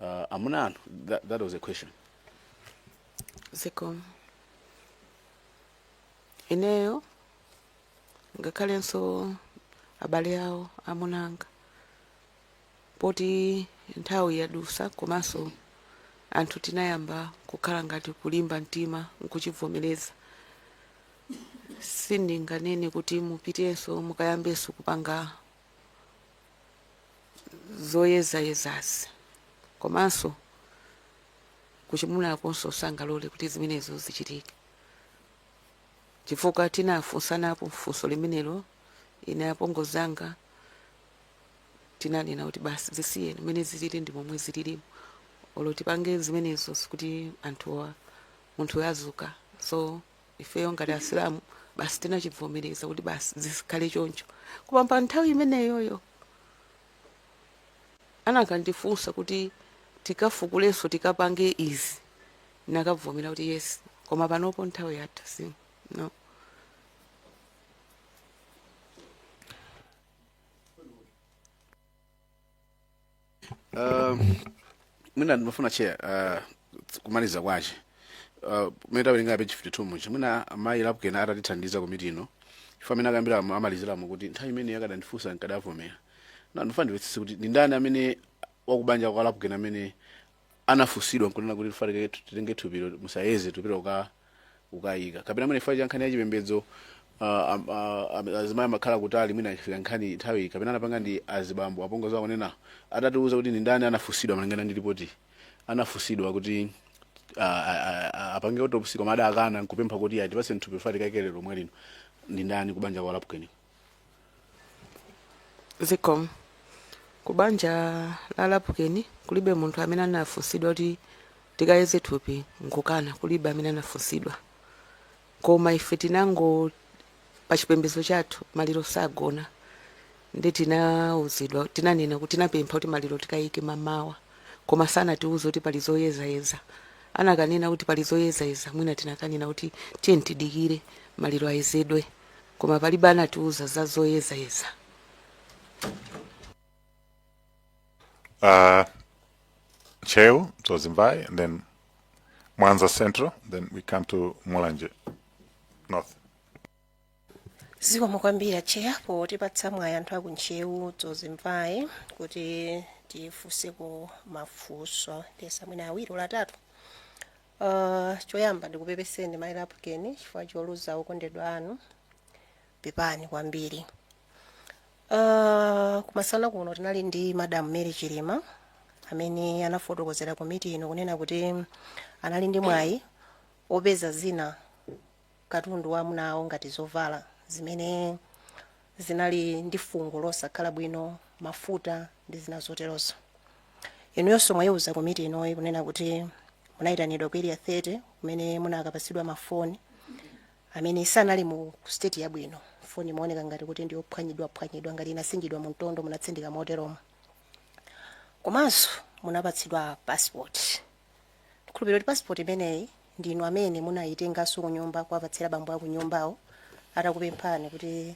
Uh, amuna anu that, that was a question zikomo ineyo ngakhalenso abale awo amuna anga poti nthawi yadusa komanso anthu tinayamba kukhala ngati kulimba mtima nkuchivomereza sindinganene kuti mupitenso mukayambenso kupanga zoyezayezazi komanso kuchimunakonso sangalole kuti zimenezo zichitike chifukwa tinafunsanapo funso limenelo ine apongozi anga tinanena kuti basi zisiyeni mmene zilili ndi momwe zililimo olo tipange zimenezo sikuti anthuwa munthu adzuka so ifeyo ngati asilamu basi tinachibvomereza kuti basi zikhale choncho koma pa nthawi imeneyoyo anakandifunsa kuti tikafukulenso tikapange izi nakabvomera kuti yes koma panopo nthawi yatha si no Uh, mwina ndimafuna chair uh, kumaliza kwache uh, mene tawerenga page 52 muja mwina amayi Lapukeni atatithandiza komiti ino chifukwa mmene akambira am- amaliziramo kuti nthawi imeneyo akadandifunsa nkadavomera na ndimafuna ndimvetsetse kuti ndi ndani amene wakubanja kwa Lapukeni amene anafunsidwa nkunena kuti chifukwa chake titenge thupilo musayeze tipita kuka- kukayika kapena mwina chifukwa cha nkhani ya chipembedzo ah, am- ah, am- azimayi amakhala kutali mwina ifika nkhani nthawi kapena anapanga ndi azibambo apongozi akunena atatiuza kuti ndi ndani anafunsidwa malingana ndi ripoti anafunsidwa kuti ah, ah, ah, ah, apange autopsy koma adakana nkupempha kuti atipase thupilo ife tikaike lero lomwe lino ndi ndani kubanja kwa lapukeni zikomo ku banja la lapukeni kulibe munthu amene anafunsidwa kuti tikayeze thupi nkukana kulibe amene anafunsidwa koma ife tinango pa chipembedzo chathu maliro sagona ndi tinauzidwa tinanena kuti tinapempha kuti maliro tikayike mamawa koma sanatiuze kuti pali zoyezayeza anakanena kuti pali zoyezayeza mwina tinakanena kuti tiyeni tidikire maliro ayezedwe koma palibe anatiuza za zoyezayeza uh, Ntcheu Dzonzi Mvai, and then Mwanza Central, then we come to Mulanje North. zikomo kwambiri a tcheya potipatsa mwayi anthu aku Ntcheu Dzonzi Mvai kuti tifunseko mafunso ndiyesa mwina awiri olo atatu Uh, choyamba ndikupepeseni mai lapukeni chifukwa choluza okondedwa anu pepani kwambiri uh, kum'mawa kuno tinali ndi madam mary chilima amene anafotokozera komiti ino kunena kuti anali ndi mwayi opeza zina katundu wa amuna awo ngati zovala zimene zinali ndi fungo losakhala bwino, mafuta ndi zina zoterozo. Inuyonso mwaiuza komiti inoyi kunena kuti munaitanidwa ku Area 30 kumene munakapatsidwa mafoni amene sanali mu state yabwino. Foni imaoneka ngati kuti ndi yophwanyidwaphwanyidwa ngati inasinjidwa mu mtondo, munatsindika moteromo. Komanso munapatsidwa passport. ndikhulupirira kuti pasipoti imeneyi ndi inu amene munayitenganso kunyumba kuwapatsira bambo a kunyumbawo atakupemphani kuti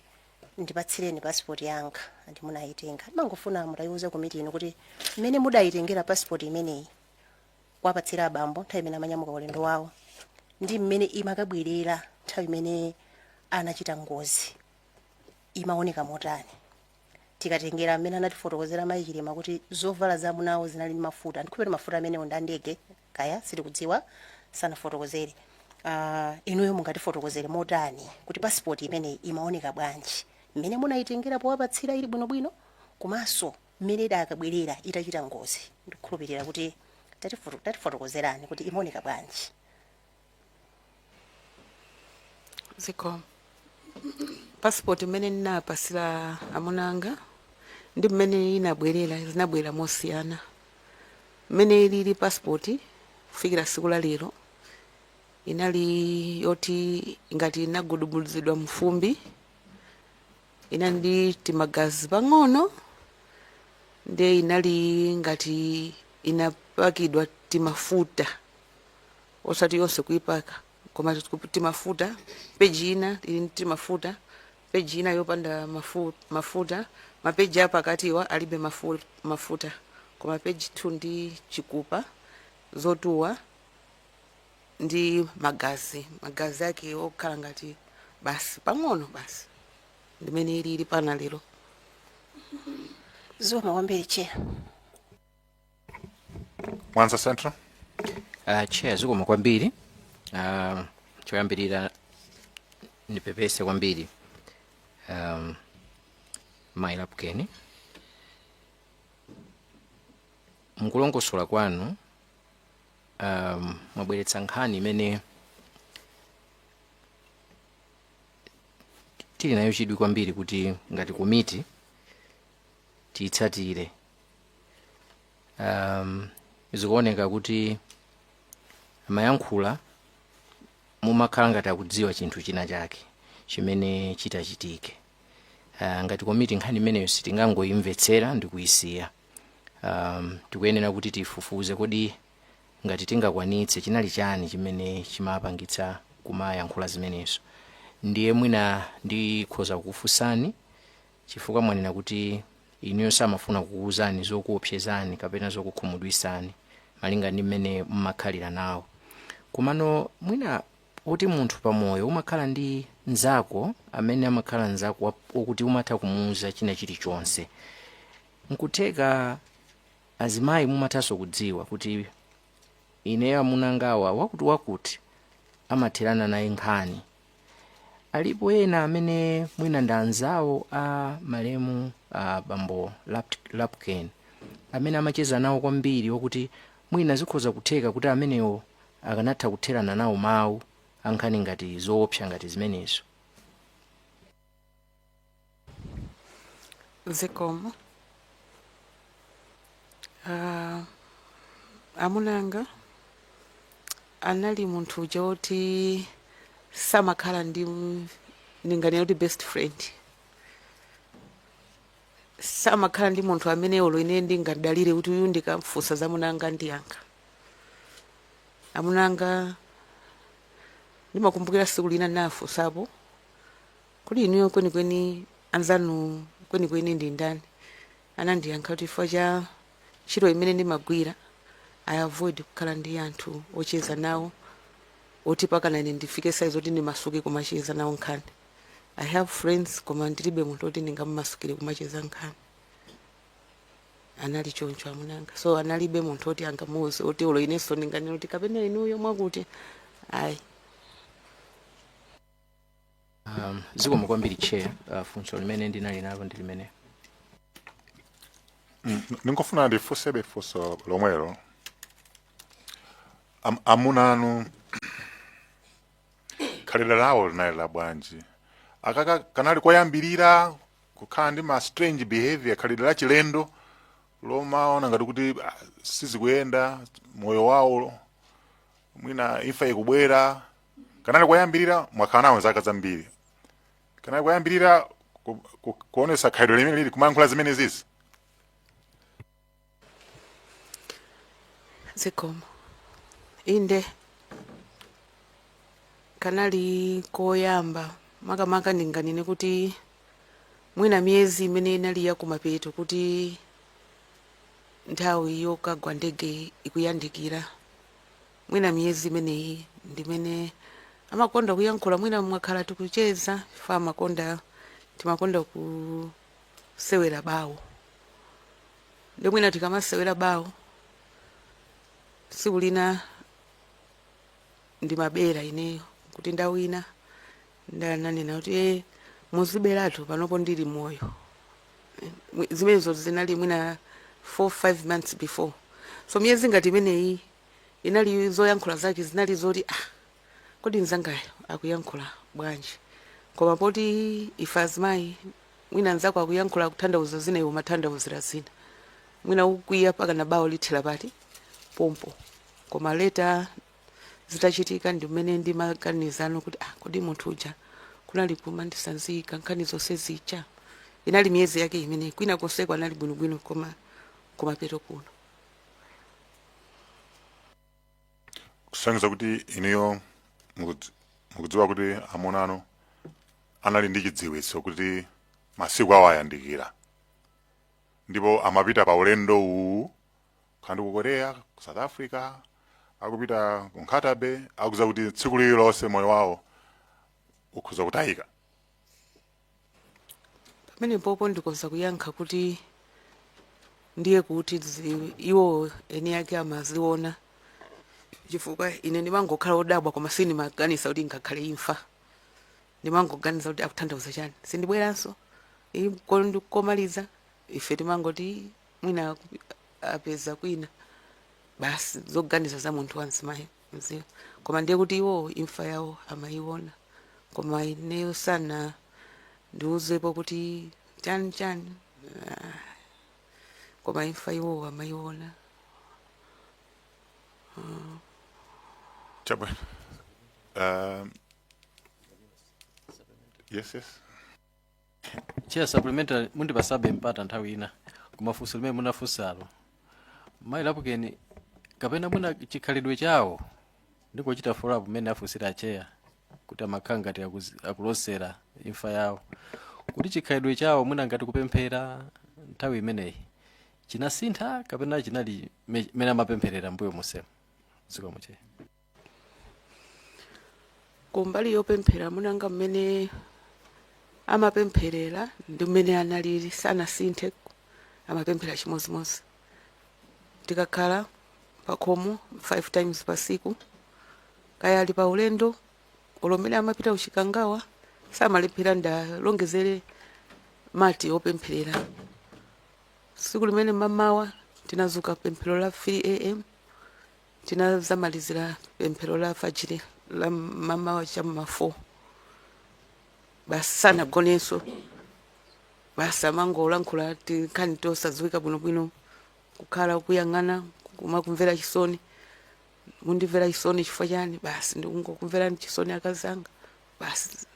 ndipatsireni pasipoti yanga ndi munayitenga ndimangofuna mutayiwuze komiti ino kuti mmene mudayitengera pasipoti imeneyi kuwapatsira abambo nthawi imene amanyamuka ulendo wawo ndi mmene imakabwerera nthawi imene anachita ngozi imaoneka motani tikatengera mmene anatifotokozera mayi chilima kuti zovala za amunawo zinali ndi mafuta ndikhulupirira mafuta amenewo ndi andege kaya sitikudziwa sanafotokozere uh, inuyo mungatifotokozere motani kuti pasipoti imeneyi imaoneka bwanji mmene munayitengera powapatsira ili bwinobwino komanso mmene idakabwerera itachita ngozi ndikhulupirira kuti tatifoto- tatifotokozerani kuti imaoneka bwanji zikomo pasipoti mmene ndinapasira amuna anga ndi mmene inabwerera zinabwera mosiyana mmene ilili pasipoti kufikira siku la lero inali yoti ngati inagudubuzidwa mfumbi inali ndi timagazi pang'ono ndiye inali ngati inapakidwa timafuta osati yonse kuipaka koma tikup- timafuta peji ina ili ndi timafuta peji ina yopanda mafu, mafuta mapeji apakatiwa alibe mafu, mafuta koma peji 2 ndi chikupa zotuwa ndi magazi magazi ake okhala ngati basi pang'ono basi ndi mmene ili ili mpaka lero zikomo kwambiri chair mwanza central Uh, chair zikomo kwambiri uh, choyambirira ndipepese kwambiri um, mai lapukeni mukulongosola kwanu um, mwabweretsa nkhani imene tili nayo chidwi kwambiri kuti ngati komiti tiyitsatire um, zikuoneka kuti amayankhula kumakhala ngati akudziwa chinthu china chake chimene chitachitike uh, ngati komiti nkhani imeneyo sitingangoyimvetsera ndi kuyisiya um, tikuyenera kuti tifufuze kodi ngati tingakwanitse chinali chani chimene chimapangitsa kumayankhula zimenezo ndiye mwina ndikhoza kufunsani chifukwa mwanena kuti inuyo samafuna kukuwuzani zokuopsezani kapena zokukhumudwisani malinga ndi mmene mmakhalira nawo komano mwina kuti munthu pamoyo umakhala ndi mnzako amene amakhala mnzako wa- wokuti umatha kumuwuza china chilichonse nkutheka azimayi mumathanso kudziwa kuti ineyo amunangawa akuti akuti amatherana naye nkhani alipo ena amene mwina ndi anzawo a malemu a bambo Lap- Lapukeni amene amacheza nawo kwambiri okuti mwina zikhoza kutheka kuti amenewo akanatha kutherana nawo mawu a nkhani ngati zoopsa ngati zimenezo zikomo Ah, amuna anga anali munthu uja woti samakhala ndi m- ndinganena kuti best friend samakhala ndi munthu amene olo ine ndingadalire kuti uyu ndikamfunsa za amuna anga andiyankha amuna anga ndimakumbukira siku lina ndinafunsapo kodi inuyo kwenikweni anzanu kwenikweni ndi ndani anandiyankha kuti chifukwa cha ntchito imene ndimagwira i avoid kukhala ndi anthu ocheza nawo oti pakana ine ndifike saizi yoti ndimasuke kumacheza nawo nkhani i have friends koma ndilibe munthu oti ndingamumasukire kumacheza nkhani anali choncho amunanga so analibe munthu oti angamuuze oti olo inenso ndinganena kuti kapena inuyo mwakuti ayi Um, zikomo kwambiri chair uh, funso limene ndinali nalo ndi limene Mm, ndingofuna ndifunsebe funso lomwelo Am, amuna anu khalidwe lawo linali la bwanji akaka kanali koyambirira kukhala ndi ma strange behavior khalidwe la chilendo lomaona ngati kuti ah, sizikuyenda moyo wawo mwina imfa ikubwera kanali koyambirira mwakhala nawo zaka zambiri kanali koyambirira ku- ku- kuonesa khalidwe limene lili kumayankhula zimenezizi zikomo inde kanali koyamba makamaka ndinganene kuti mwina miyezi imene inali yakumapeto kuti nthawi yokagwa ndege ikuyandikira Mwina miyezi imeneyi ndimene amakonda kuyankhula mwina mwakhala tikucheza chifukwa amakonda timakonda kusewera bawo nde mwina tikamasewera bawo tsiku lina ndimabera ineyo kuti ndawina ndananena kuti e muziberatu panopo ndili moyo zimenezo zinali mwina 4 5 months before so miyezi ngati imeneyi inali zoyankhula zake zinali zoti ah kodi mzangayo akuyankhula bwanji koma poti ife azimayi mwina mzako akuyankhula akuthandauza zina iwe umathandauzira zina mwina ukwiya pakana bawo lithera pakati pompo koma later zitachitika ndi m'mene ndimaganizano kuti ah kodi munthu uja kunali kumandisanzika nkhani zonse zija inali miyezi yake imene kwina konseko anali bwinobwino koma kumapeto kuno kusonyeza kuti inuyo mukudz- mukudziwa kuti amuna anu anali ndi chidziwitso kuti masiku awo ayandikira ndipo amapita pa ulendo uwu kaya ndi ku korea ku south africa akupita ku Nkhata Bay akudziwa kuti tsiku lililonse moyo wawo ukhoza kutayika pamenepopo ndikhoza kuyankha kuti ndiye kuti zi- iwo eni ake amaziona chifukwa ine ndimangokhala odabwa koma sindimaganiza kuti ngakhale imfa ndimangoganiza kuti akuthandauza chani sindibweranso Iyi ko- ndi- komaliza ife timangoti mwina aku- apeza kwina basi zoganiza za munthu wa mzimayi mzee koma ndiye kuti iwowo imfa yawo amayiona koma ineyo sanandiuzepo kuti chani chani Ah, koma imfa iwowo amayiona Chabwino. Um, yes, yes. chair supplementary mundipasabe mpata nthawi ina koma funso limene munafunsalo mayi lapukeni kapena mwina chikhalidwe chawo ndikuchita follow up mmene afunsira acheya kuti amakhala ngati akuzi- akulosera imfa yawo kuti chikhalidwe chawo mwina ngati kupemphera nthawi imeneyi chinasintha kapena chinali me- mmene amapempherera mbuyo monsemu zikomo chair kumbali yopemphera munanga mmene amapempherera ndi mmene analili sanasinthe amapemphera chimodzimodzi tikakhala pakhomo 5 times pasiku kaya ali pa ulendo olo mmene amapita uchikangawa samalephera ndalongezere mati opempherera tsiku limene mamawa tinadzuka pemphero la 3 am Tinadzamalizira pemphero la fajiri la mamawa cha ma 4 basi sanagonenso basi amangolankhula tinkhani tosadziwika bwinobwino kukhala kuyang'ana kumakumvera chisoni mundimvera chisoni chifukwa chani basi ndikungokumverani chisoni akazanga basi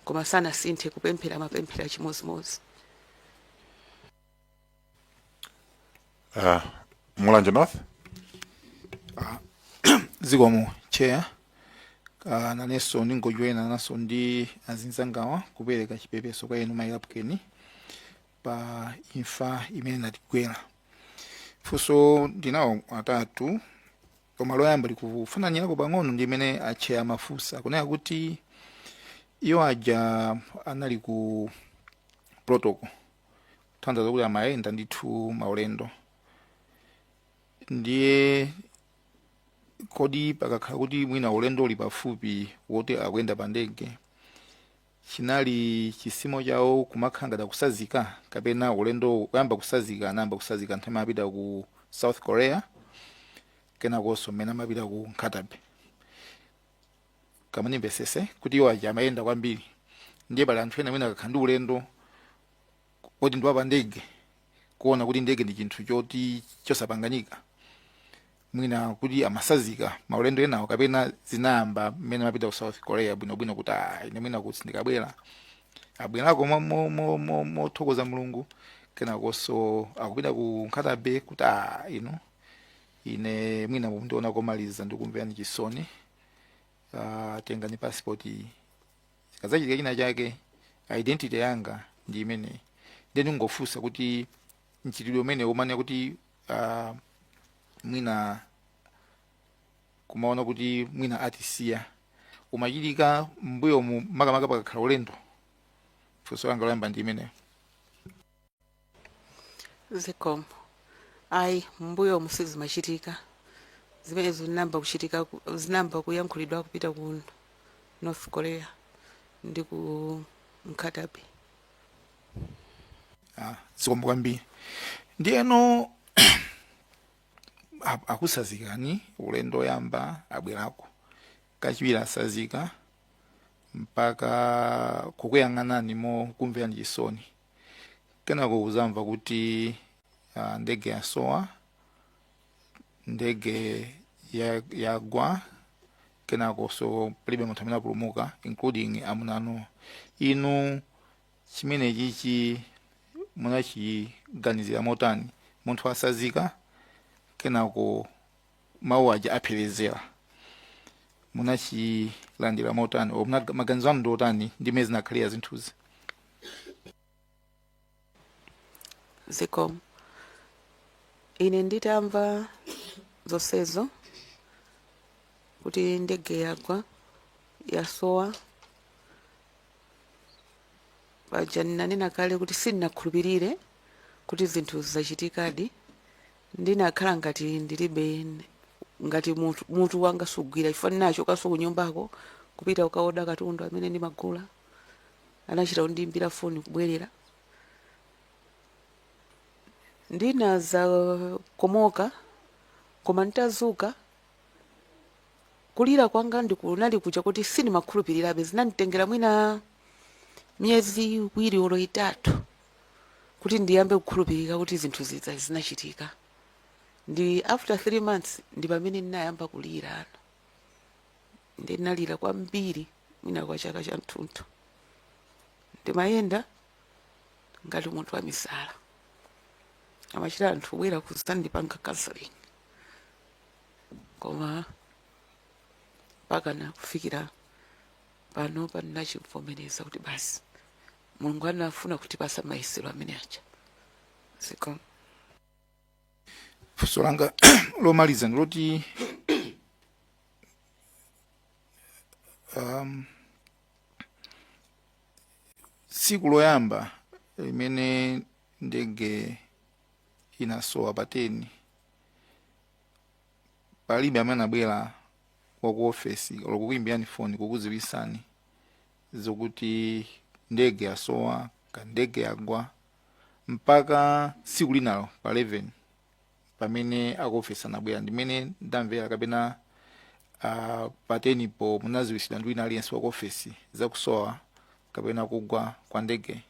koma sanasinthe kupemphera amapemphera chimodzimodzi Uh, Mulanje North. zikomo chair uh, nanenso ndingojoina nawo ndi azinzangawa kupereka chipepeso kwa inu mayi Lapukeni pa imfa imene inatigwera mafunso ndinawo atatu koma loyamba likufananirako pang'ono ndi limene acheya amafunsa kunena kuti iwo aja anali ku protocol tanthauza kuti amayenda ndithu maulendo ndiye kodi pakakhala kuti mwina ulendo uli pafupi woti akuyenda pa ndege chinali chizimo chawo kumakhala ngati akutsanzika kapena ulendo woyamba kutsanzika anayamba kutsanzika nthawi imene amapita ku south korea kenakonso mmene amapita ku Nkhata Bay kapena ndimvetsetse kuti iwo aja amayenda kwambiri ndiye pali anthu ena amene akakhala ndi ulendo woti ndi wapa ndege kuona kuti ndege ndi chinthu choti chosapanganika mwina kuti amatsanzika maulendo enawo kapena zinayamba mmene amapita ku south korea bwinobwino kuti "Ah, ine mwina kuti ndikabwera abwerako mo- mo- mo- mo- mothokoza mulungu kenakonso akupita ku Nkhata Bay kuti "Ah, inu ine mwina mundiona komaliza ndikumverani chisoni uh, tengani passport iyi chikazachitika china chake identity yanga ndi imeneyi then ndingofunsa kuti mchitidwe umene umanena kuti uh, mwina kumaona kuti mwina atisiya umachitika mbuyomu makamaka pakakhala ulendo funso langa loyamba ndi limenelo zikomo ayi m'mbuyomu sizimachitika zimene zinayamba kuchitika ku- zinayamba kuyankhulidwa kupita ku north korea ndi ku Nkhata Bay Ah, zikomo kwambiri ndiyeno a- akusazikani ulendo oyamba abwerako kachiwiri asazika mpaka kukuyang'anani mokumverani chisoni kenako kuzamva kuti uh, ndege yasowa ndege ya- yagwa kenako nso palibe munthu amene apulumuka including amunanu inu chimenechichi munachiganizira motani munthu asazika kenako mawu aja apherezera munachilandira motani or munaga- maganizo anu ndi otani ndi mmene zinakhalira zinthuzi zikomo ine nditamva zonsezo kuti ndege yagwa yasowa paja ndinanena kale kuti sindinakhulupirire kuti zinthu zachitikadi Ndinakhala ngati ndilibe, ngati mutu, mutu wanga sugwira chifukwa ndinachokanso kunyumbako kupita kukaoda katundu amene ndimagula. Anachita kundiyimbira foni kubwerera. Ndinadzakomoka, koma nditazuka, kulira kwanga ndi kunali kuja kuti sindimakhulupirirabe. Zinanditengera mwina miyezi iwiri olo itatu. kuti ndiyambe kukhulupirika kuti zinthu zija zinachitika ndi after three months ndi pamene ndinayamba kulirano ndi ndinalira kwambiri mwina kwa chaka chathunthu ndimayenda ngati munthu wa misala amachita anthu kubwera kuzandipanga counseling koma pakana kufikira pano pandinachimvomereza kuti basi mulungu anafuna kutipasa mayesero amene aja zikomo funso langa lomaliza ndiloti um, tsiku loyamba limene ndege inasowa pa 10 palibe amene anabwera waku ofesi olo kukuimbirani foni kukuziwisani zokuti ndege yasowa ka ndege yagwa mpaka tsiku linalo pa 11 pamene akuofesi anabwera ndimene ndamvera kapena uh, pa 10 po munaziwisidwa ndi wina aliyense wakuofesi zakusowa kapena kugwa kwa ndege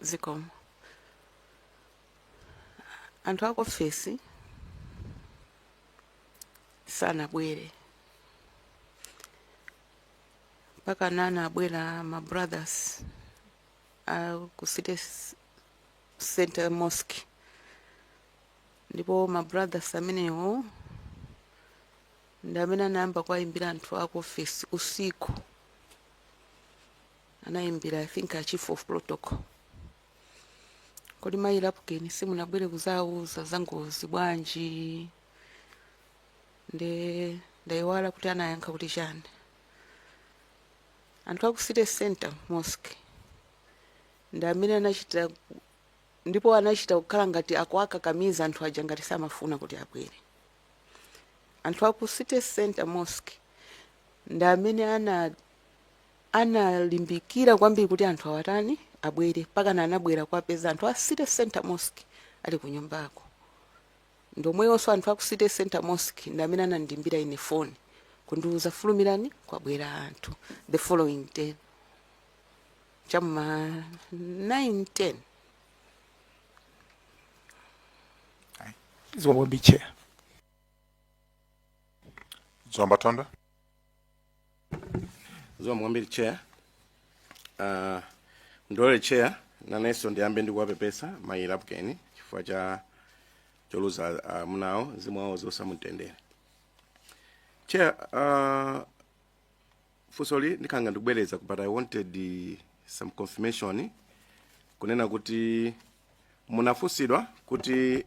zikomo anthu aku ofesi sanabwere mpaka nana abwera ma brothers a ku city s- center mosque ndipo ma brothers amenewo ndi amene anayamba kuwayimbira anthu aku ofesi usiku anayimbira i think a chief of protocol kodi mayi lapukeni simunabwere kuzauza za ngozi bwanji nde ndayiwala kuti anayankha kuti chani anthu aku city center mosque ndi amene anachita ndipo anachita kukhala ngati akuwakakamiza anthu aja ngati samafuna kuti abwere anthu aku city center mosque ndi amene analimbikira kwambiri kuti anthu awatani abwere pakana anabwera kuwapeza anthu a city center mosque ali ku nyumbako ndi omwewonso anthu aku city center mosque ndi amene anandiimbira ine foni kundiuza fulumirani kwabwera anthu the following day cha m'ma 910 Zikomo kwambiri chair. Zomba Thondwe. Zikomo kwambiri chair. Uh, ndilole chair nanenso ndiyambe ndikuwapepesa mayi lapukeni chifukwa cha koluza uh, amuna awo mzimu wawo uwuse mumtendere chair uh, funsoli ndikhala ngati kubwereza but i wanted eh, some confirmation kunena kuti munafunsidwa kuti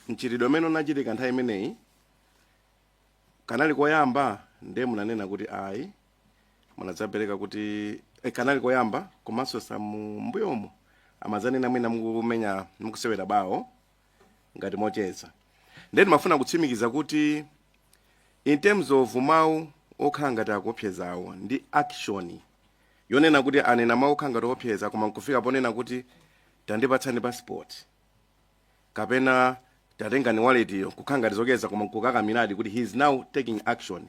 mchitidwe umene unachitika nthawi imeneyi kanali koyamba ndiye munanena kuti ayi munadzapereka kuti eh, kanali koyamba komanso za m'mbuyomo amadzanena mwina mukumenya mukusewera bawo ngati mocheza ndiye ndimafuna kutsimikiza kuti in terms of mawu okhala ngati akuopsezawo ndi action yonena kuti anena mawu okhala ngati oopseza koma nkufika ponena kuti tandipatsani passport kapena tatengani waletiyo kukhala ngati zocheza koma nkukakamiradi kuti he is now taking action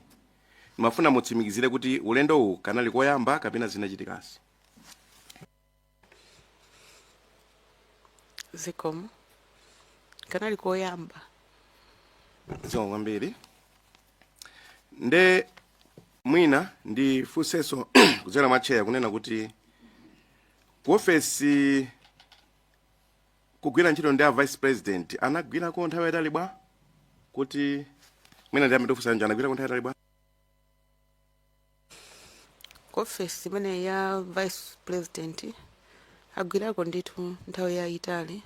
ndimafuna mutsimikizire kuti ulendo uwu kanali koyamba kapena zinachitikanso zikomo kanali koyamba zikomo kwambiri nde mwina ndifunsenso kudzera mwa cheya kunena kuti ku ofesi kugwira ntchito ndi a vice president anagwirako nthawi yayitali bwa kuti mwina ndi ndiyambe ndi funso ija anagwirako nthawi yatali bwa ku ofesi imene ya vice president agwirako ndithu nthawi yayitali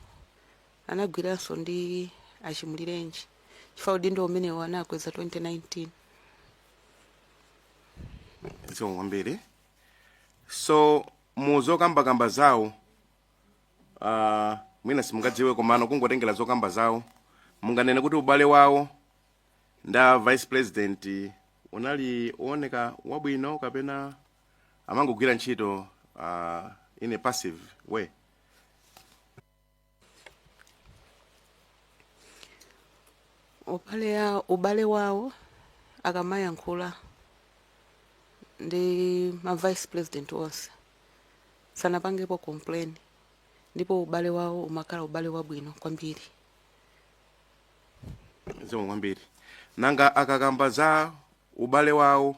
anagwiranso ndi achimulirenji chifukwa udindo umenewo anakweza 2019 zikomo kwambiri so mu zokambakamba zawo uh, mwina simungadziwe komano kungotengera zokamba zawo munganene kuti ubale wawo ndi a vice president unali uoneka wabwino kapena amangogwira ntchito uh, in a passive way ubale ya- ubale wawo akamayankhula ndi ma vice president onse sanapangepo complain ndipo ubale wawo umakhala ubale wabwino kwambiri zikomo kwambiri nanga akakamba za ubale wawo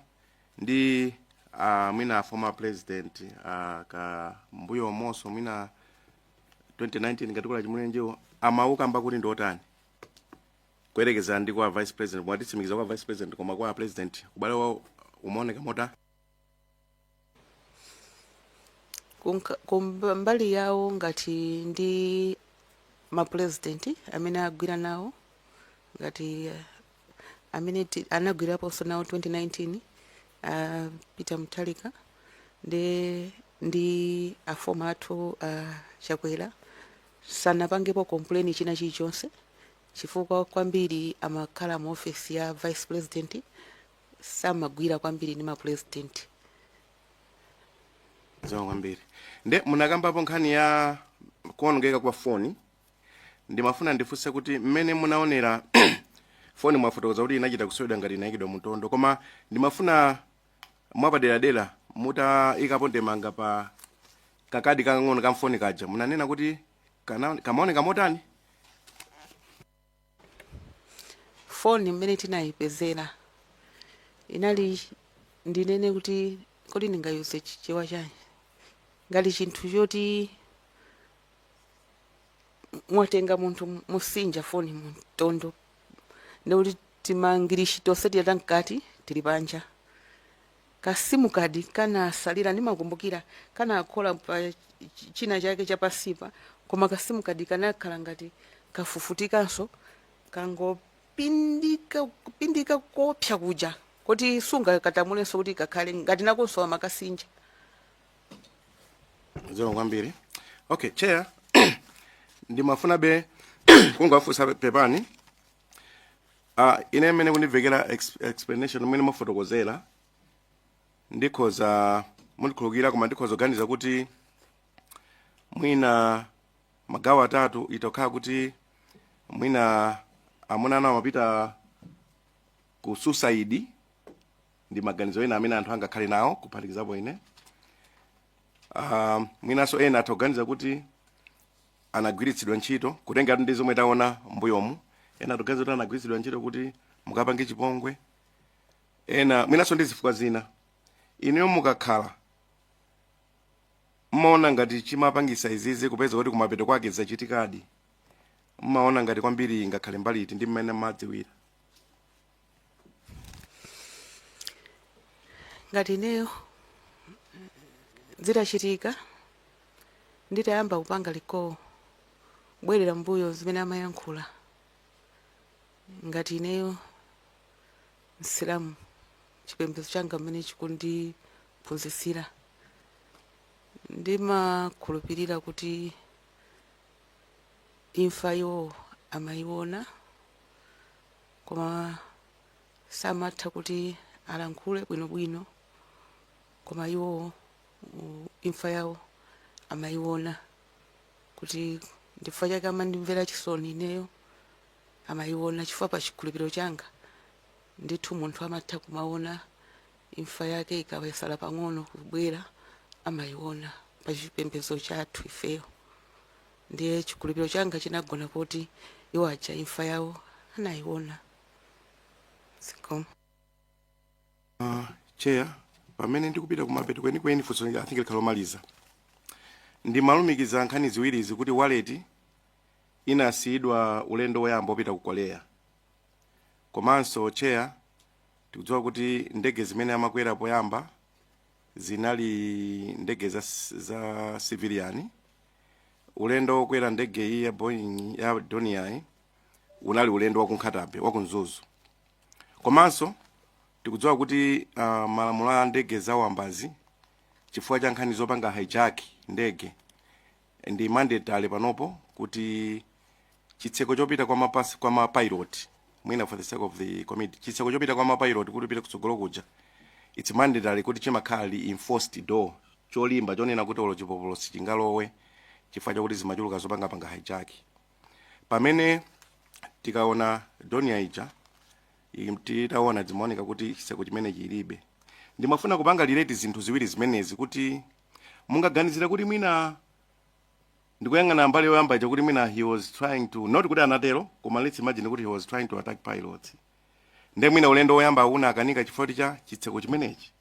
ndi uh, mwina former president uh, ka mbuyo moso mwina 2019 ngatikula chimulirenjiwo amawukamba kuti ndiotani kuyerekeza ndi kwa vice president mwatitsimikizira kwa vice president koma kwa president ubale wawo umaoneka mota kunka- kumba- mbali yawo ngati ndi mapulezidenti amene agwira nawo ngati eh, amene ti- anagwiraponso nawo 2019 a Peter Mutharika ndi ndi afoma athu a Chakwera sanapangepo kompleni china chilichonse chifukwa kwambiri amakhala mu ofesi ya vice president samagwira kwambiri ndi mapulezidenti zikomo kwambiri nde munakambapo nkhani ya kuonongeka kwa foni ndimafuna ndifunse kuti mmene munaonera foni mwafotokoza kuti inachita kuswedwa ngati inayikidwa mumtondo koma ndimafuna mwapaderadera mutaikapo ndemanga pa kakadi kakang'ono ka mfoni kaja munanena kuti kana- kamaoneka motani foni mmene tinayipezera inali ndinene kuti kodi ndingaiuze chichewa chanji ngati chinthu choti mwatenga munthu mukusinja foni mumtondo ndi kuti timagirishi tonse tiyata mkati tili panja ka sim card kanatsalira ndimakumbukira kanakola pa ch- china chake chapansipa koma ka sim card kanakhala ngati kafufutikanso kangopindika kupindika kopsa kuja koti sungakatambasulenso kuti kakhale ngati nakonso amakasinja zikomo kwambiri okay chair ndimafunabe kungowafunsa pepani uh, ine mmene ndikumvera ex- explanation mmene mwafotokozera ndikhoza mundikhulukira koma ndikhoza kuganiza kuti mwina magawo atatu itokhala kuti mwina amuna anu amapita ku suicide ndi maganizo ena amene anthu angakhale nawo kuphatikizapo ine um, mwinanso ena atha kuganiza kuti anagwiritsidwa ntchito kutengera ndi zomwe taona mbuyomu ena tikuganiza kuti anagwiritsidwa ntchito kuti akapange chipongwe ena mwinanso ndi zifukwa zina inuyo mukakhala mmaona ngati chimapangitsa izizi kupeza kuti kumapeto kwake zachitikadi mmaona ngati kwambiri ingakhale mbali iti ndi mmene mmadziwira ngati ineyo zitachitika nditayamba kupanga recall kubwerera mbuyo zimene amayankhula ngati ineyo msilamu chipembedzo changa mmene chikundiphunzitsira ndimakhulupirira kuti imfa iwowo amayiona koma samatha kuti alankhule bwinobwino koma iwo u- imfa yawo amayiona kuti ndifa n'chake amandimvera chisoni ineyo amayiona chifukwa pa chikhulupiriro changa ndithu munthu amatha kumaona imfa yake ikatsala pang'ono kubwera amayiona pa chipembedzo chathu ifeyo Ndiye chikhulupiro changa chinagona poti iwo aja imfa yawo anayiona. Zikomo. Uh, chair pamene ndikupita kumapeto kwenikweni funso i think likhala lomaliza ndimalumikiza nkhani ziwirizi kuti wallet inasiyidwa ulendo woyamba wopita ku Korea komanso chair tikudziwa kuti ndege zimene amakwera poyamba zinali ndege za, za civilian ulendo wokwera ndege iyi ya boeing ya Dornier iyi unali ulendo wa ku Nkhata Bay wa ku Mzuzu komanso tikudziwa kuti uh, malamulo a ndege zawambazi chifukwa cha nkhani zopanga hijack ndege ndi mandatory panopo kuti chitseko chopita kwa mapasi kwa ma pilot mwina for the sake of the committee chitseko chopita kwa ma pilot kutipita kutsogolo kuja it's mandatory kuti chimakhala reinforced door cholimba chonena kuti olo chipopolo sichingalowe chifukwa chakuti zimachuluka zopanga panga hijack pamene tikaona Dornier ija im- titaona zimaoneka kuti chitseko chimene chilibe ndimafuna kupanga relate zinthu ziwiri zimenezi kuti mungaganizire kuti mwina ndikuyang'ana mbali yoyamba ija kuti mwina he was trying to not kuti anatero koma let's imagine kuti he was trying to attack pilots nde mwina ulendo woyamba unakanika chifukwa kuti cha chitseko chimenechi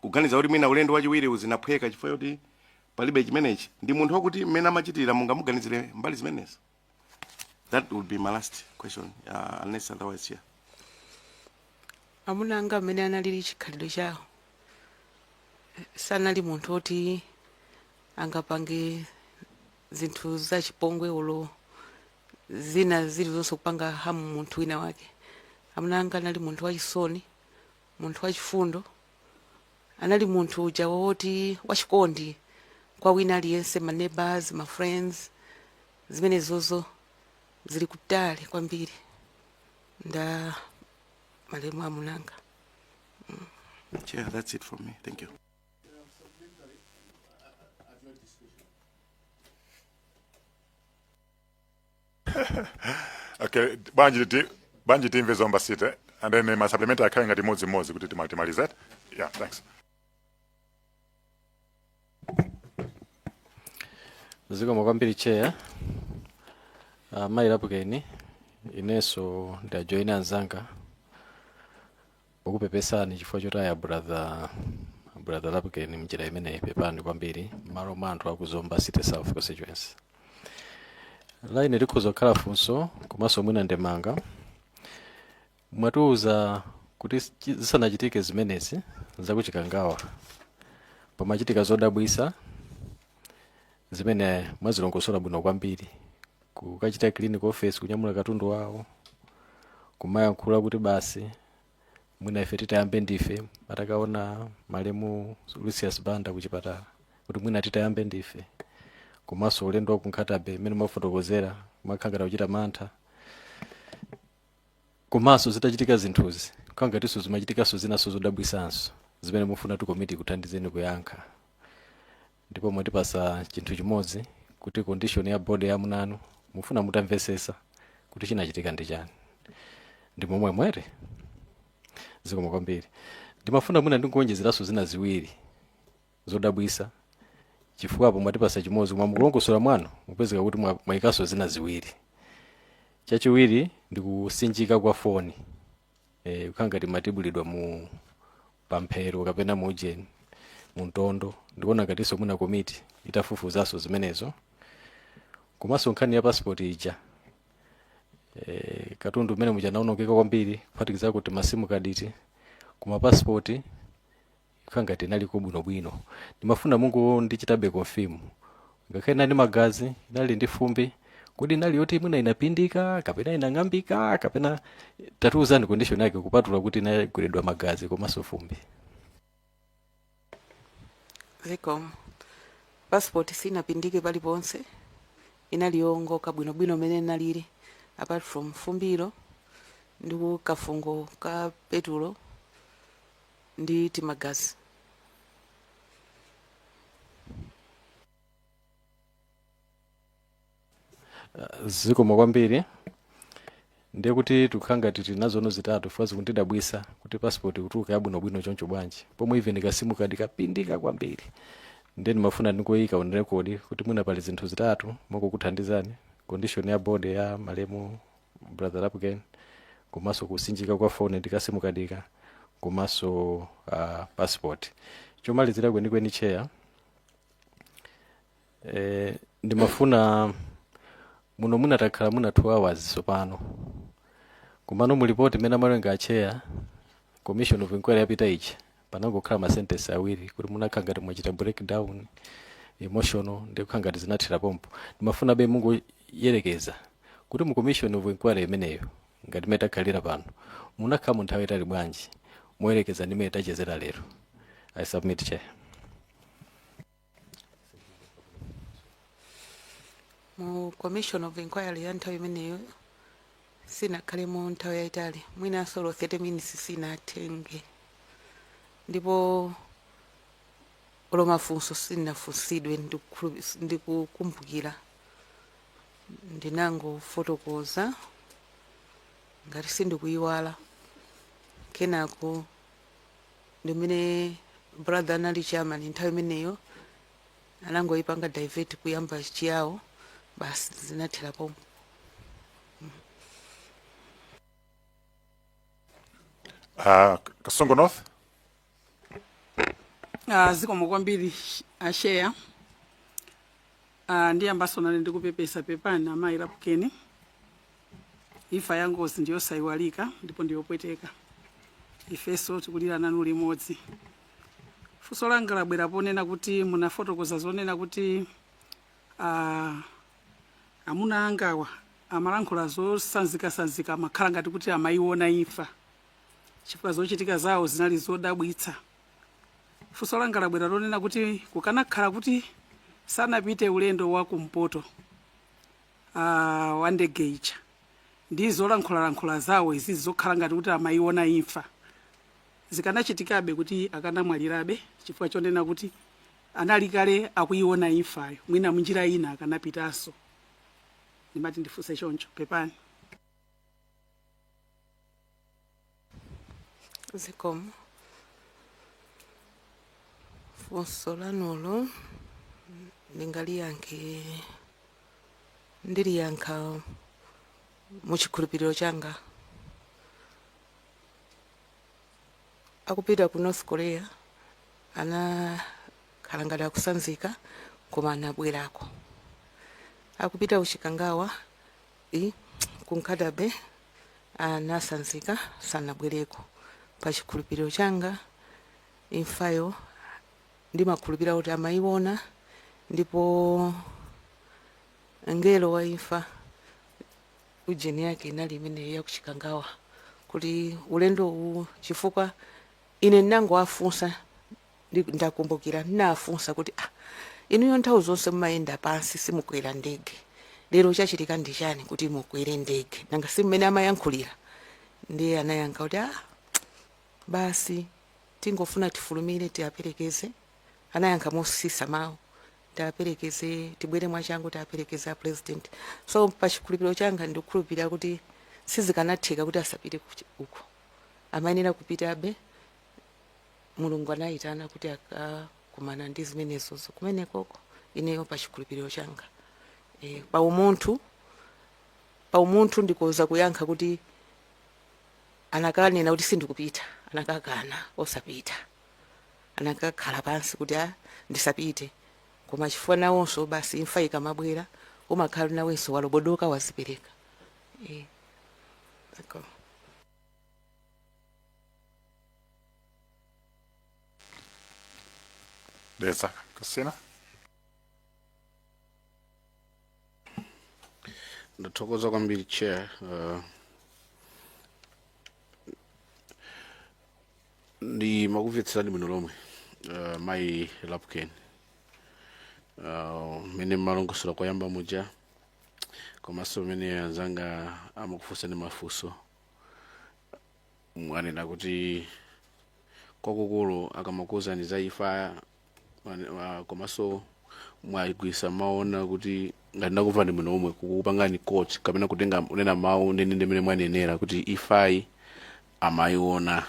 kuganiza kuti mwina ulendo wachiwiriwu zinaphweka chifukwa kuti palibe chimenechi ndi munthu wakuti mmene amachitira mungamuganizire mbali zimenezo That would be my last question, uh, unless otherwise, yeah. amuna anga mmene analili chikhalidwe chawo eh, sanali munthu oti angapange zinthu zachipongwe olo zina zilizonse kupanga harm munthu wina wake amuna anga anali munthu wachisoni Munthu wachifundo, anali munthu uja woti wachikondi kwa wina aliyense, ma neighbours, ma friends, zimenezozo zili kutali kwambiri nda malemu amunanga. Mm. Chair, that's it from me. Thank you. okay bwanji ti bwanji timve zomba city and then ma supplement akhale ngati mmodzi mmodzi kuti tima- timalize eti yeah thanks zikomo kwambiri chair uh, mayi lapukeni inenso ndajoyina anzanga pokupepesani chifukwa chotaya brother brother lapukeni mnjira imeneyi pepani kwambiri mmalo mwa anthu aku zomba city south constituency line likhoza kukhala funso komanso mwina ndemanga mwatiuza kuti chi- zisanachitike zimenezi zakuchikangawa pamachitika zodabwisa zimene mwazilongosola bwino kwambiri kukachita clean ku office kunyamula katundu wawo kumayankhula kuti basi mwina ife titayambe ndife atakaona malemu lucius banda kuchipatala kuti mwina titayambe ndife komanso ulendo wa ku nkhata bay mmene mwafotokozera kumakhala ngati akuchita mantha komanso zitachitika zinthuzi kukhala ngatinso zimachitikanso zinanso zodabwisanso zimene mufuna kuti komiti ikuthandizeni kuyankha ndipo mwatipasa chinthu chimodzi kuti condition ya body ya amuna anu mufuna mutamvesesa kuti chinachitika ndi chani ndi momwemo eti zikomo kwambiri ndimafuna mwina ndingoonjezeraso zina ziwiri zodabwisa chifukwa apo mwatipasa chimodzi koma mukulongosola mwanu mupezeka kuti mwa- mwayikaso zina ziwiri chachiwiri ndikusinjika kwa foni eh, kukhala ngati imatibulidwa mu pamphero kapena mu ujeni mu mtondo ndikuona ngatinso mwina komiti itafufuzanso zimenezo komanso nkhani ya passport ija eh, katundu mmenemuja anaonongeka kwambiri kuphatikizako timasimu kaditi koma passport ikukhala ngati inaliko bwinobwino ndimafuna mungondichitabe confirm ngakhale inali ndi magazi inali ndi fumbi kodi inali yoti mwina inapindika kapena inang'ambika kapena tatiuzani condition yake kupatula kuti inagweredwa magazi komanso fumbi zikomo passport sinapindike paliponse inali yowongoka bwinobwino mmene inalili apart from fumbilo ndi kafungo ka petulo ndi timagazi. zikomo kwambiri ndiye kuti tikukhala ngati tili nazono zitatu chifukwa zikundidabwisa kuti passport kutuluka yabwinobwino choncho bwanji pomwe even kasimukadi kapindika kwambiri ndiye ndimafuna ndingoyika on record kuti mwina pali zinthu zitatu mongokuthandizani condition ya body ya malemu brother Lapukeni komanso kutswanyika kwa foni ndi kasimukadika komanso uh, passport chomalizira kwenikweni chair eh, ndimafuna muno muna takhala muno 2 hours tsopano komano mulipoti imene amalenga acheya commission of inquiry yapita ichi panangokhala ma sentence awiri kuti munakhala ngati mwachita break down emotional ndikukhala ngati zinathera pompo ndimafunabe mungoyerekeza kuti mu commission of inquiry imeneyo ngati mmene takhalira pano munakhalamo nthawi yaitali bwanji moyerekeza ndi mmene tachezera lero i submit chair mu commission of inquiry ya nthawi imeneyo sinakhalemo nthawi yayitali mwinanso olo 30 minutes sinatenge ndipo olo mafunso sinafunsidwe ndikukhulu- s- ndikukumbukira ndinangofotokoza ngati sindikuyiwala kenako ndi mmene brother anali chairman nthawi imeneyo anangoyipanga divert kuyamba chiyawo basi zinathera pompo Uh, Kasungu North. Ah, zikomo kwambiri acheya Ah, ndiyambanso nane ndikupepesa pepani amayi Lapukeni imfa ya ngozi ndiyosayiwalika ndipo ndiyopweteka ifenso tikulira nanu limodzi funso langa labwera ponena kuti munafotokoza zonena kuti ah, amuna angawa amalankhula zosanzikasanzika amakhala ngati kuti amayiona imfa chifukwa zochitika zawo zinali zodabwitsa Funso langa labwera lonena kuti kukanakhala kuti sanapite ulendo wa kumpoto ah, wa ndege ija ndi zolankhulalankhula zawo izizi zokhala ngati kuti amayiona imfa zikanachitikabe kuti akanamwalirabe chifukwa chonena kuti anali kale akuyiona imfayo mwina munjira ina akanapitanso ndimati ndifunse choncho pepani zikomo funso lanulo ndingaliyankhe ndiliyankha mu chikhulupiriro changa akupita ku north korea anakhala ngati akusanzika koma anabwerako akupita ku chikangawa i ku Nkhata Bay anasanzika sanabwereko pa chikhulupiriro changa imfayo ndimakhulupirira kuti amayiona ndipo ngelo wa imfa ujeni yake inali imeneyo yakuchikangawa kuti ulendo uwu chifukwa ine ndinangowafunsa Ndi- ndakumbukira ndinafunsa kuti ah, inuyo nthawi zonse mumayenda pansi simukwera ndege lero chachitika ndi chani kuti mukwere ndege nanga si mmene amayankhulira ndiye anayankha kuti ah, basi tingofuna tifulumire tiaperekeze anayankha mosisa mawu tiaperekeze tibwere mwachangu tiaperekeze a president so pa chikhulupiriro changa ndikukhulupirira kuti sizikanatheka kuti asapite kuchi- uko amayenera kupitabe Mulungu anayitana kuti akakumana ndi zimenezozo kumenekoko ineyo pa chikhulupiriro changa e, pa umunthu pa umunthu ndikoza kuyankha kuti anakanena kuti sindikupita anakakana osapita anakakhala pansi kuti a ndisapite koma chifukwa nawonso basi imfa ikamabwera umakhala nawenso walobodoka wazipereka e, ziko. Dedza Kasina. ndathokoza kwambiri chair uh, ndimakumvetserani bwino lomwe uh, mayi Lapukeni uh, mene mmalongosola koyamba muja komanso mene anzanga amakufunsani mafunso mwanena kuti kwakukulu akamakuuzani za imfa mwane- wa- komanso mwagwiritsa mawu onena kuti ngati ndakumvani bwino omwe kukupangani quote kapena kutenga kunena mawu ndende ndi mmene mwanenera kuti imfayi amayiona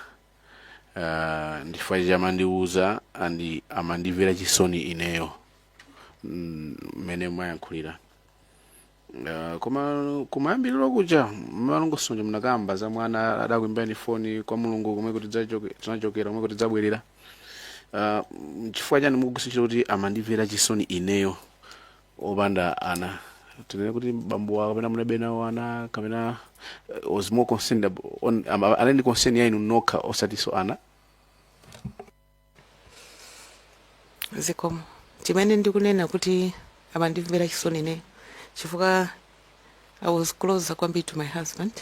uh, ndi chifukwa chake amandiuza and amandimvera chisoni ineyo mmene mwayankhulira Uh, koma kumayambiriro kuja mumalongosola munakamba za mwana adakuimbirani foni kwa mulungu komwe kuti tidzachoke- tinachokera komwe kuti tidzabwerera uh, chifukwa chani mukugwiritsa ntchito kuti amandimvera chisoni ineyo opanda ana tinene kuti bambowa kapena munalibe nawo ana kapena uh, was more concerned ab- on, am- anali ndi concern ya inu nokha osatiso ana zikomo chimene ndikunena kuti amandimvera chisoni ineyo chifukwa i was closer kwambiri to my husband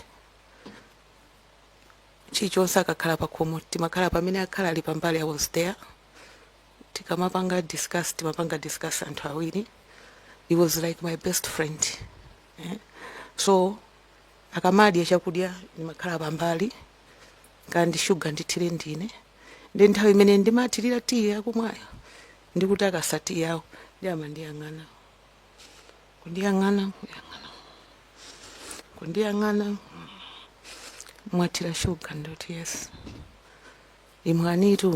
chilichonse akakhala pakhomo timakhala pamene akhala ali pambali i was there tikamapanga discuss timapanga discuss anthu awiri he was like my best friend eh? so akamadya chakudya ndimakhala pambali kaya ndi shuga ndithire ndine ndiye nthawi imene ndimathirira tiyi yakumwayo ndikutakasa tiyi wawo ndiye amandiyang'ana kundiyang'ana kundiyang'ana kundiyang'ana mwathira shuga ndikuti yes imwanitu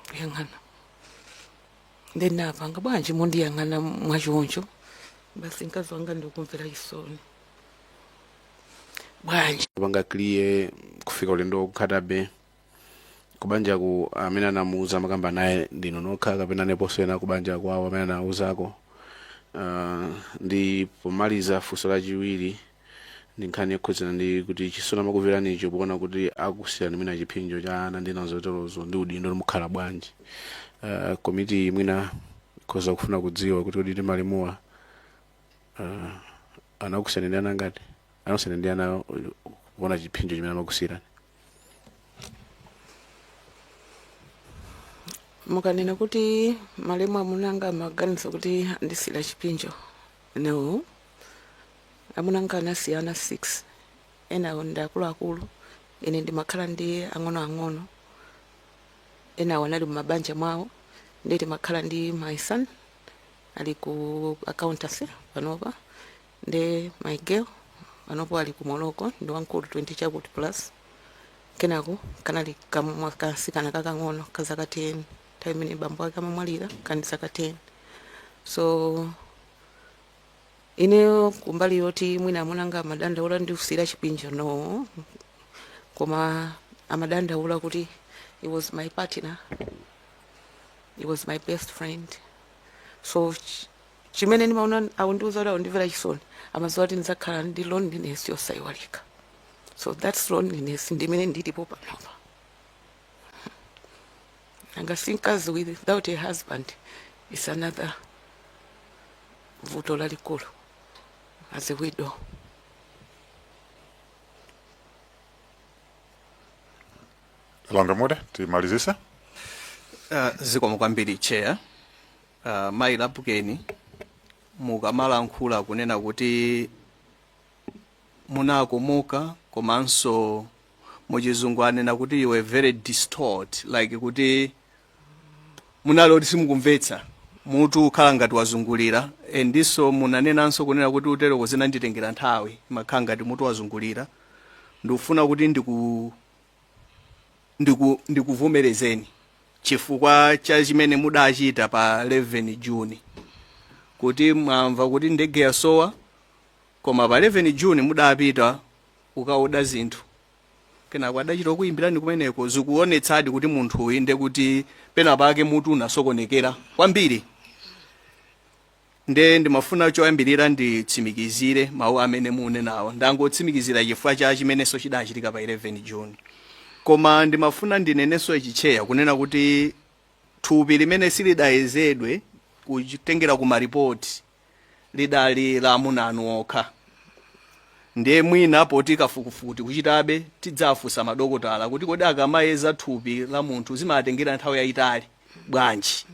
kuyang'ana ndiye ndapanga bwanji mukundiyang'ana mwachoncho basi mkazi wanga ndikumvera chisoni bwanji kupanga clear kufika ulendo waku Nkhata Bay kubanjaku amene anamuuza amakamba naye ndinu nokha kapena aliponso ena kubanja kwawo amene anawauzako uh, ndi pomaliza funso lachiwiri ndi nkhani yokhudzana ndi kuti chisoni amakumveranicho poona kuti akusiyani mwina chipsinjo cha ana ndi nazotolozo ndi udindo ndiye mukhala bwanji uh, komiti mwina ikhoza kufuna kudziwa kuti kodi malemuwa Uh, anakusiyani ndi ana angati anakusiyani ndi ana kuona chipsinjo chimene amakusiyirani mukanena kuti malemu amunanga amaganiza kuti andisiyira chipsinjo no amunanga anasiya ana 6 enawo ndi akuluakulu ine ndimakhala ndi ang'onoang'ono enawo anali mumabanja mwawo ndiye timakhala ndi my son ali ku accountancy panopa nde my girl panopa ali ku morocco ndi wamkulu 20 chakuti plus kenako kanali kamtsikana kakang'ono ka zaka 10 nthawi imene bambo ake amamwalira kanali zaka 10 so ineyo kumbali yoti mwina amuna anga amadandaula ndikusiyira chipsinjo no koma amadandaula kuti I was my partner I was my best friend so ch- chimene ndimaona akundiuza kuti akundimvera chisoni amadziwa kuti ndidzakhala ndi loneliness yosayiwalika so that's loneliness ndi imene ndilipo panopa nanga si mkazi without a husband is another vuto lalikulu as a widow Honourable Mude, timalizitse. Uh, zikomo kwambiri chair uh, mayi Lapukeni mukamalankhula kunena kuti munakomoka komanso muchizungu anena kuti you were very distraught like kuti munali oti simukumvetsa mutu kukhala ngati wazungulira and ndiso munanenanso kunena kuti kuteroko zinanditengera nthawi mumakhala ngati mutu wazungulira ndikufuna kuti ndiku ndiku, ndikuvomerezeni chifukwa cha chimene mudachita pa 11 June kuti mwamva kuti ndege yasowa koma pa 11 June mudapita kukaoda zinthu kenako adachita kuyimbirani kumeneko zikuonetsadi kuti munthu uyu nde kuti pena pake mutu unasokonekera kwambiri Nde ndimafuna choyambirira nditsimikizire mawu amene munenawo. Ndangotsimikizira chifukwa cha chimenenso chidachitika pa 11 June. Koma ndimafuna ndinenenso ichi Chair kunena kuti thupi limene silidayezedwe kutengera ku ma report lidali la amuna anu okha. Ndiye mwina poti kafukufuku tikuchitabe tidzafunsa madokotala kuti kodi akamayeza thupi la munthu zimatengera nthawi yayitali bwanji.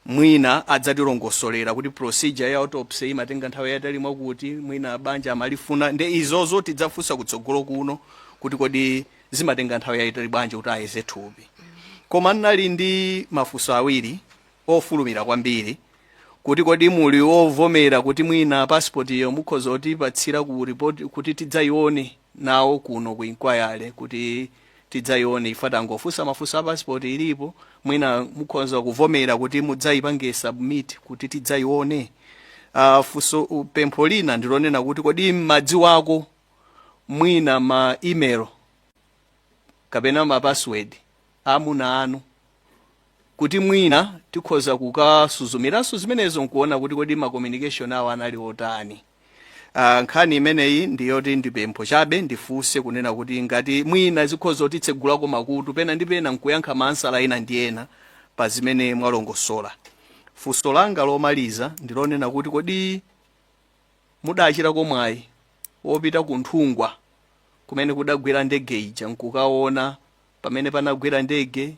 Mwina adzatilongosolera kuti procedure ya autopsy imatenga nthawi yayitali mwakuti, mwina abanja amalifuna, nde izozo tidzafunsa kutsogolo kuno kuti kodi zimatenga nthawi yayitali bwanji kuti ayeze thupi. Koma ndinali ndi mafunso awiri ofulumira kwambiri kuti kodi muli ovomera kuti mwina passport yo mukhoza kutipatsira kapena report kuti tidzayione nawo kuno ku inquiry kuti tidzaione ife tangofunsa mafunso a passport ilipo mwina mukhoza kuvomera kuti mudzaipange submit kuti tidzaione uh, funso uh, pempho lina ndilonena kuti kodi mmadziwako mwina ma email kapena ma password amuna anu, kuti mwina tikhoza kukasuzumiranso zimenezo nkuona kuti kodi ma communication awo anali otani. Ah, nkhani imeneyi ndi yoti ndi pempho chabe ndifunse kunena kuti ngati mwina zikhoza kutitsegulako makutu pena ndi pena nkuyankha mafunso ena ndi ena pa zimene mwalongosola. Funso langa lomaliza ndi lonena kuti kodi mudachitako mwayi wopita ku Nthungwa kumene kudagwera ndege ija nkukaona pamene panagwera ndege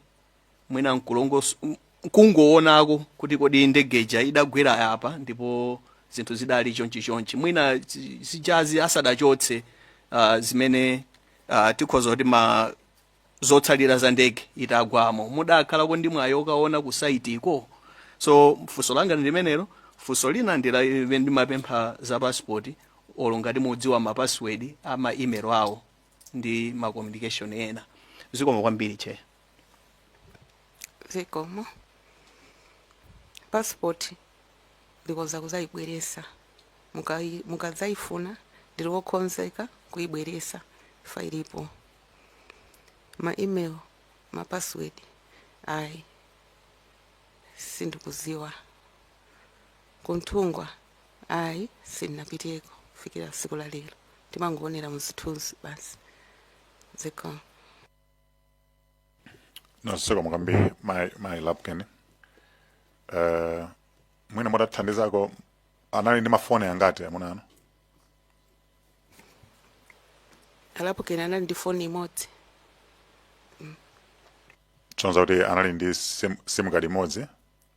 mwina nkulongos- m- nkungowonako kuti kodi ndege ija idagwera apa ndipo zinthu zidali chonchi chonchi mwina zi- zijazi asadachotse uh, zimene uh, tikhoza kuti ma zotsalira za ndege itagwamo mudakhalako ndi mwayi okaona ku site-ko so funso langa ndi limenelo funso lina ndi limene ndimapempha za pasipoti olo ngati mudziwa mapasiwedi a ma email awo ndi ma communication ena zikomo kwambiri che zikomo passport ndikhoza kuzayibweresa Mukai- mukadzayifuna ndiri wokonzeka kuyibweresa chifukwa ilipo ma email ma password ayi sindikuziwa ku Nthungwa Ayi sindinapiteko kufikira siku la lero timangoonera muzithunzi basi zikomo zikomo kwambiri mai mai Lapukeni uh, mwina mutathandizako anali ndi mafoni angati amuna anu a Lapukeni anali ndi foni imodzi kusonyeza kuti anali ndi sim, sim card imodzi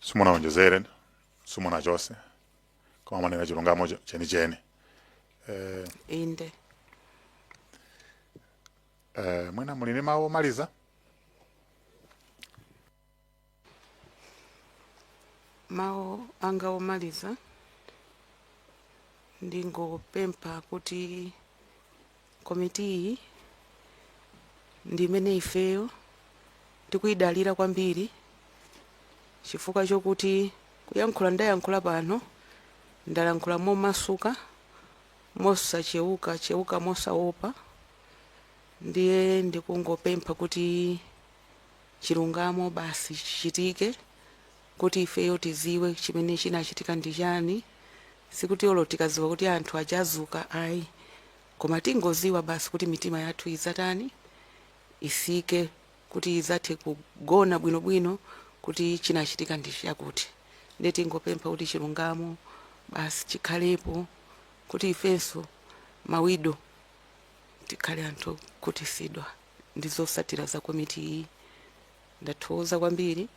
simunawonjezere simunachose koma mwanena chilungamo cho- chenicheni eh, inde eh, mwina muli ndi mawu omaliza mawu anga omaliza ndingopempha kuti Komitiyi ndi imene ifeyo tikuyidalira kwambiri chifukwa chokuti kuyankhula ndayankhula pano, ndalankhula momasuka, mosachewukachewuka, mosaopa, ndiye ndikungopempha kuti chilungamo basi chichitike. kuti ifeyo tiziwe chimene chinachitika ndi chani sikuti olo tikaziwa kuti anthu aja adzuka ayi koma tingoziwa basi kuti mitima yathu izatani isike kuti tizathe kugona bwinobwino kuti chinachitika ndi chakuti nde tingopempha kuti chilungamo basi chikhalepo kuti ifenso mawido tikhale anthu okhutisidwa ndi zosatira za komiti iyi ndathokoza kwambiri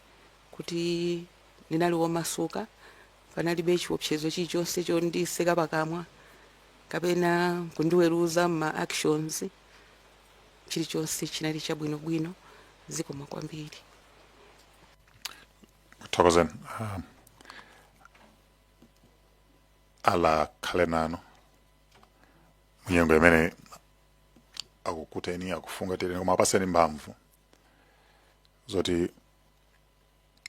kuti ndinali womasuka, panalibe chiopsezo chilichonse chondiseka pakamwa kapena kundiweruza mma actions, chilichonse chinali chabwinobwino zikomo kwambiri. thokozani um, Allah akhale nanu munyengo imene akukuteni akufungatireni koma akupaseni mphamvu zoti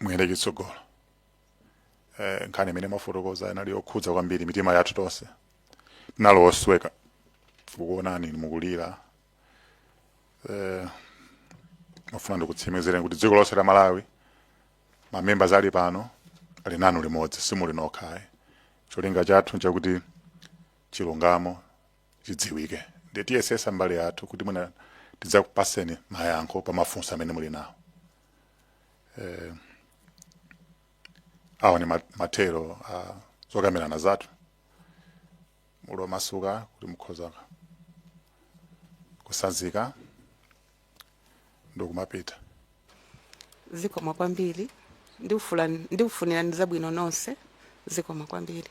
muyende chitsogolo eh, nkhani imene mwafotokoza inali yokhudza kwambiri mitima yathu tonse tinali osweka kukuonani inu mukulira eh, ndimafuna ndikutsimikizireni kuti dziko lonse la malawi mamembers ali pano ali nanu limodzi simuli nokha ayi cholinga chathu nchakuti chilungamo chidziwike ndiye tiyesesa mbali yathu kuti mwina tidzakupaseni mayankho pa mafunso amene muli nawo eh, awa ni ma- mathero a zokambilana zathu muli omasuka kuti mukhoza kusanzika ndikumapita zikomo kwambiri ndikufunirani zabwino zonse zikomo kwambiri